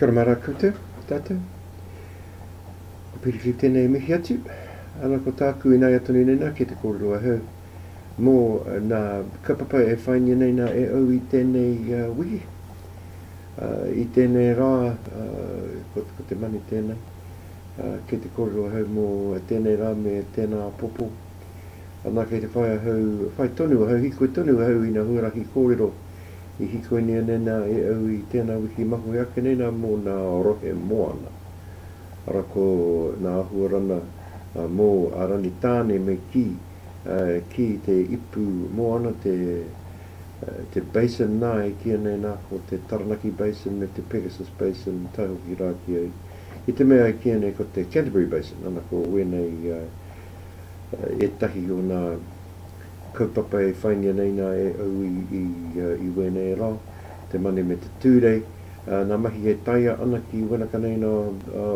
Kia ora mara koutou, tātou. Ko Piriwhiri tēnei e mihi atu. Ana ko tāku ināia tonu nei nā, kei te kōrero ahau. mō nā kaupapa e whaingia nei nā e au i tēnei wiki, i tēnei rā, ko te mani tēnā, kei te kōrero ahau mō tēnei rā me tēnā apopo. Anā, kei te whai ahau, whai tonu ahau, hikoi tonu ahau i nā huarahi kōrero i hikoinea nei nā e au i tēnā wiki mahue ake nei nā mō nā rohe moana. Arā ko nā āhua rana mō a Rani Tāne me kī, ki te ipu moana, te basin nā, e kīia nei nā, ko te Taranaki Basin me te Pegasus Basin, tae hoki rā ki a, ki te mea e kīia nei ko te Canterbury Basin, ana ko wēnei ētahi o nā kaupapa e whaingia nei nā e au i wēnei rā, te Mane me te Tūrei, nā mahi e taea ana ki wēnaka nei nā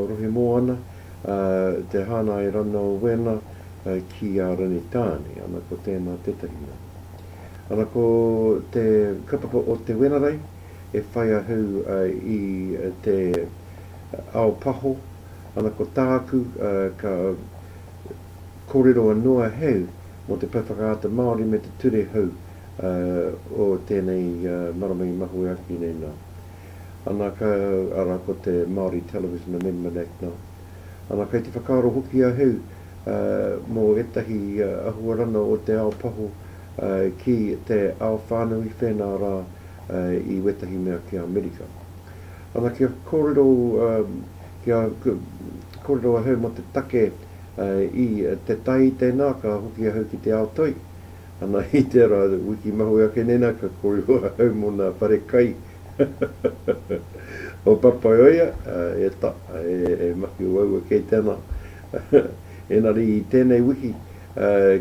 rohe moana. te hāngai rana o wēnā ki a Rangitāne, ana ko tēnā tētahi mea. Ana ko te kaupapa o Te Wenerei e whai ahau i te ao paho, ana ko tāku ka kōrero anō ahau mō te Pou Whakaata Māori me te ture hou o tēnei marama i mahue ake nei nā. Ana, ka, arā, ko te Māori Television Amendment Act nā. Ana, kei te whakaaro hoki a Heu, ā, mō ētahi ahuarana o te ao paho, ā, ki te ao whānui whēnā rā, ā, i wētahi mea ki Amerika. Ana, kia kōrero, ā, kia, ka, kōrero a Heu mō te take, ā, i te tai i tēnā, ka hoki a Heu ki te ao toi, Ana i te ra wiki mahue ake nena ka korero ahau mo na whare kai o Papaioea e ta e maki waua kei te ana enari i tenei wiki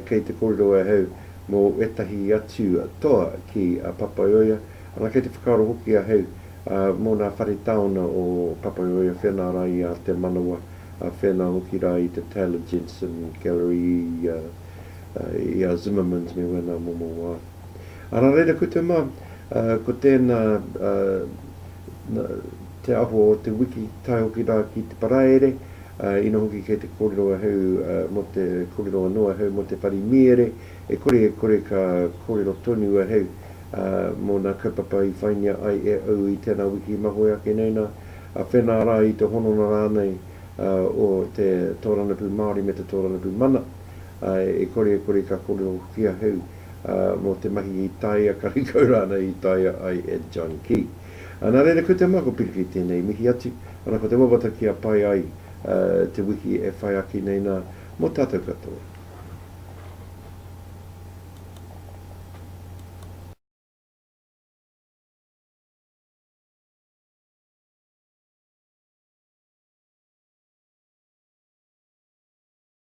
kei te korero ahau mo etahi atu toa ki a Papaioea ana kei te whakaaro hoki ahau mo na whare taona o Papaioea whena ra i a Te Manawa whena hoki ra i te Taylor Jensen Gallery i I a Zimmermans me wena momo wa. Ara reira koutou ma, ko tena te aho o te wiki tae hoki ra ki te paraere, ina hoki kei te korero ahau mo te korero ano ahau mo te pari miere, e kore e kore ka korero tonu ahau mo na kaupapa i whaingia ai e au i tena wiki mahue ake nei na, whena ra i te hononga ranei o te Toranapu Maori me te Toranapu Mana. e kore e kore ka kōrerohia hou mō te mahi i taea karekau rānei i taea ai e John ki. Nā reira ko te mā ko Piriki tēnei mihi atu, ana ko te wawata kia pai ai te wiki e whai ake nei nā mō tātou katoa.